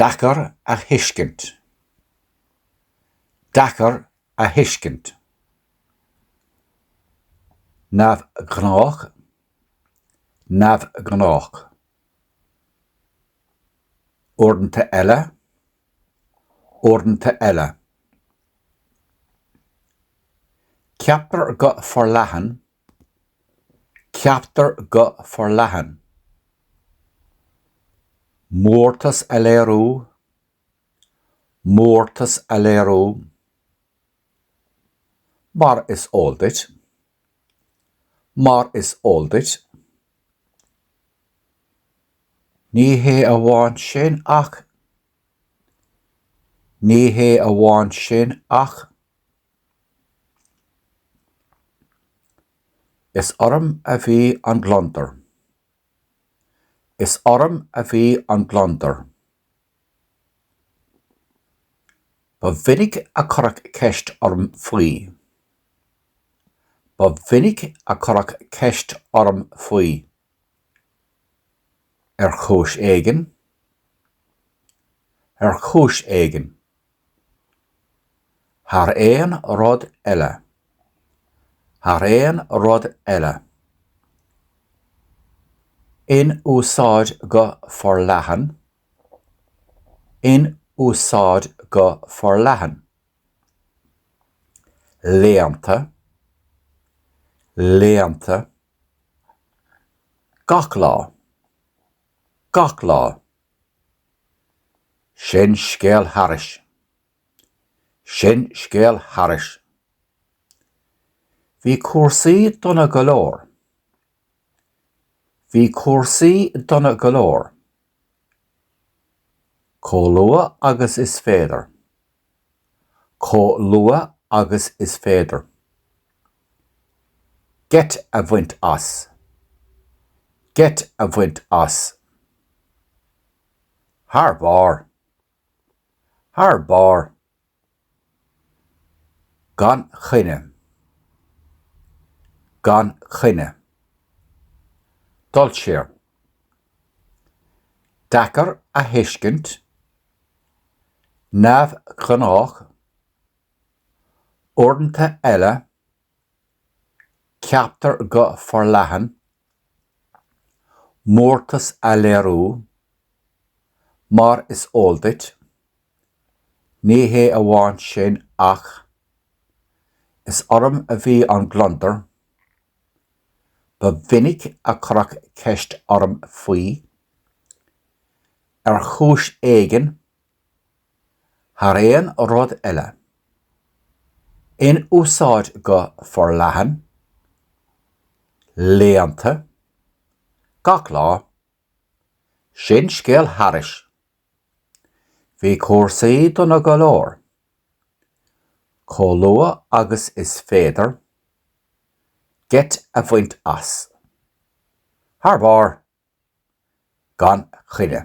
Deacair a thuiscint. Deacair a thuiscint. Neamhghnách. Neamhghnách. Uaireanta eile. uaireanta eile. Ceaptar go forleathan, ceaptar go forleathan. Mórtas a léiriú, mórtas a léiriú. Mar is eol duit, Mar is eol duit, ní hé amháin sin ach ní hé amháin sin ach Is orm a bhí an gliondar. Is orm a bhí an gliondar. Ba mhinic a cuireadh ceist orm faoi. Ba mhinic a cuireadh ceist orm faoi, ar chúis éigin, ar chúis éigin, thar aon rud eile, thar aon rud eile, in úsáid go forleathan, in úsáid go forleathan, léannta, léannta, gach lá, gach lá, sin scéal thairis, sin scéal thairis, bhí cúrsaí dona go leor, Bhí cúrsaí dona go leor. Chomh luath agus is féidir. Chomh luath agus is féidir. Geit a bhaint as. Geit a bhaint as. Thar barr. Thar barr. gan choinne, gan choinne, dul siar, deacair a thuiscint, neamhghnách, uaireanta eile, ceaptar go forleathan, mórtas a léiriú, mar is eol duit,. Ní hé amháin sin ach Is orm a bhí an gliondar, ba mhinic a cuireadh ceist orm faoi, ar chúis éigin, thar aon rud eile. In úsáid go forleathan, léannta, gach lá. Sin scéal thairis. Bhí cúrsaí dona go leor. Chomh luath agus is féidir geit a bhaint as. Thar barr. Gan choinne.